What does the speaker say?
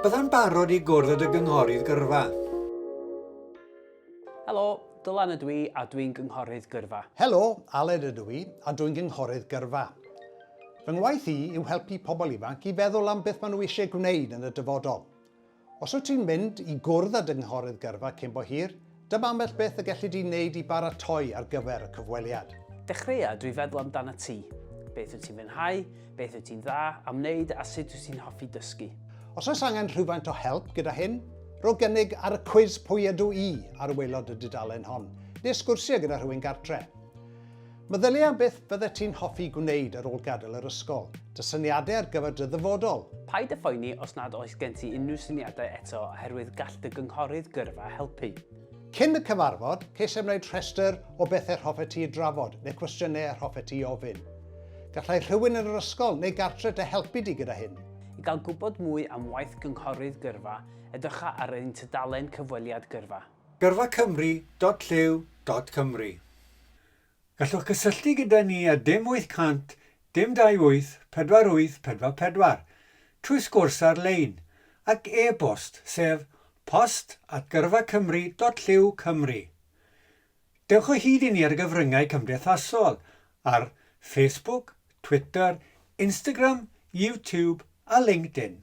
Byddai'n barod i gwrdd â dy gynghorydd gyrfa. Helo, Dylan ydw i a dwi'n gynghorydd gyrfa. Helo, Aled ydw i a dwi'n gynghorydd gyrfa. Fy ngwaith i yw helpu pobl ifanc i feddwl am beth maen nhw eisiau gwneud yn y dyfodol. Os wyt ti'n mynd i gwrdd â dy Gynghorydd Gyrfa cyn bo hir, dyma ambell beth y gelli di wneud i baratoi ar gyfer y cyfweliad. Dechreuâ drwy feddwl amdanat ti. Beth wyt ti'n fwynhau, beth wyt ti'n dda am wneud a sut wyt ti'n hoffi dysgu? Os oes angen rhywfaint o help gyda hyn, rho gynnig ar y cwis Pwy ydw i? ar waelod y dudalen hon, neu sgwrsia gyda rhywun gartre. Meddylia beth fyddet ti'n hoffi gwneud ar ôl gadael yr ysgol. Dy syniadau ar gyfer dy ddyfodol. Paid â phoeni os nad oes gen ti unrhyw syniadau eto oherwydd gall dy gynghorydd gyrfa helpu. Cyn y cyfarfod, ceisiau wneud rhestr o bethau'r hoffet ti ei drafod neu cwestiynau yr hoffet ti ei ofyn. Gallai rhywun yn yr ysgol neu gartre dy helpu di gyda hyn. I gael gwybod mwy am waith gynghorydd gyrfa, edrycha ar ein tudalen cyfweliad gyrfa. Gyrfa Cymru dot llyw dot Cymru. Gallwch gysylltu gyda ni ar dim 800 dim 28 48 44 trwy sgwrs ar-lein ac e-bost sef post at gyrfacymru dot llyw cymru. Dewch o hyd i ni ar y gyfryngau cymdeithasol ar Facebook, Twitter, Instagram, YouTube a LinkedIn.